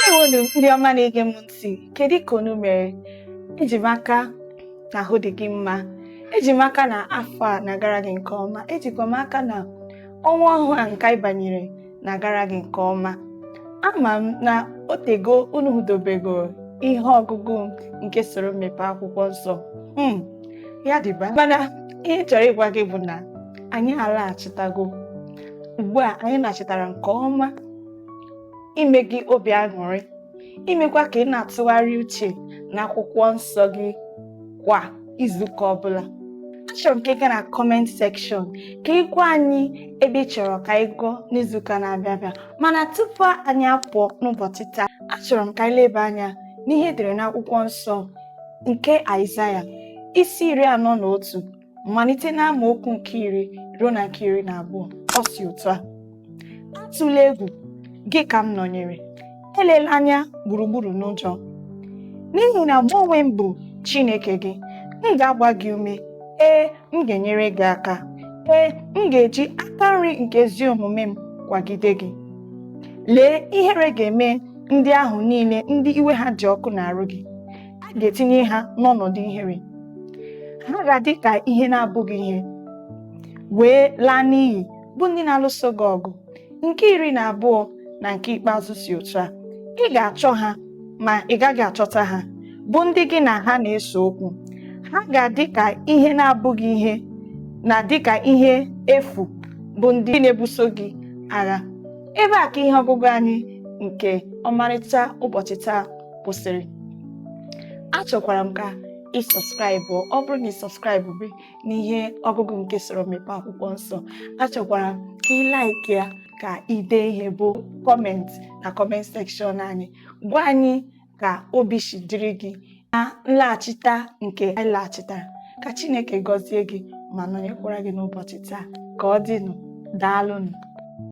ndewonu ndị ọma na-ege m ntị kedu ka unu mere eji m aka na ahụ dị gị mma eji m aka na afọ a na-agara gị nke ọma ejikwa m aka na ọnwa ọhụụ a nke anyị banyere na-agara gị nke ọma ama m na o teego unu hụdobego ihe ọgụgụ nke soro m mepee akwụkwọ nsọ hmm, ya dịba mana ihe chọrọ ịgwa gị bụ na anyị alaghachitago ugbu a anyị nachitara nke ọma ime gị obi aṅụrị imekwa ka ị na-atụgharị uche n'akwụkwọ nsọ gị kwa izuụka ọbụla achọrọ m ka ị gaa na comment section ka ị gwa anyị ebe ị chọrọ ka anyị gụọ n'izuụka na-abịa abịa mana tupu anyị apụọ n'ụbọchị taa achọrọ m ka anyị leba anya n'ihe e dere n'akwụkwọ nsọ nke Aịzaya isi iri anọ na otu malite n'amaokwu nke iri ruo na nke iri na abụọ ọ sị otu a atụla egwu gị ka m nọnyere elela anya gburugburu n'ụjọ n'ihi na mụ onwe m bụ Chineke gị m ga-agba gị ume ee m ga-enyere gị aka ee m ga-eji aka nri nke ezi omume m kwagide gị lee ihere ga-eme ndị ahụ niile ndị iwe ha dị ọkụ n'arụ gị a ga-etinye ha n'ọnọdụ ihere ha ga-adị ka ihe na-abụghị ihe wee laa n'iyi bụ ndị na-alụso gị ọgụ nke iri na abụọ na nke ikpeazụ sị otu a ị ga-achọ ha ma ị gaghị achọta ha bụ ndị gị na ha na-ese okwu ha ga-adị ka ihe na-abụghị ihe na dị ka ihe efu bụ ndị na-ebuso gị agha ebe a ka ihe ọgụgụ anyị nke ọmarịcha ụbọchị taa kwụsịrị achọkwara m ka ị subscribe ọ bụrụ na ị subscribe-be n'ihe ọgụgụ nke soro m mepee akwụkwọ nsọ achọkwara m ka ị like ya ka i dee ihe bụ comment na comment section anyị gwa anyị ka obi si dịrị gị na nlaghachita nke anyị laghachitara ka Chineke gọzie gị ma nọnyekwara gị n'ụbọchị taa ka ọ dịnụ daalụnụ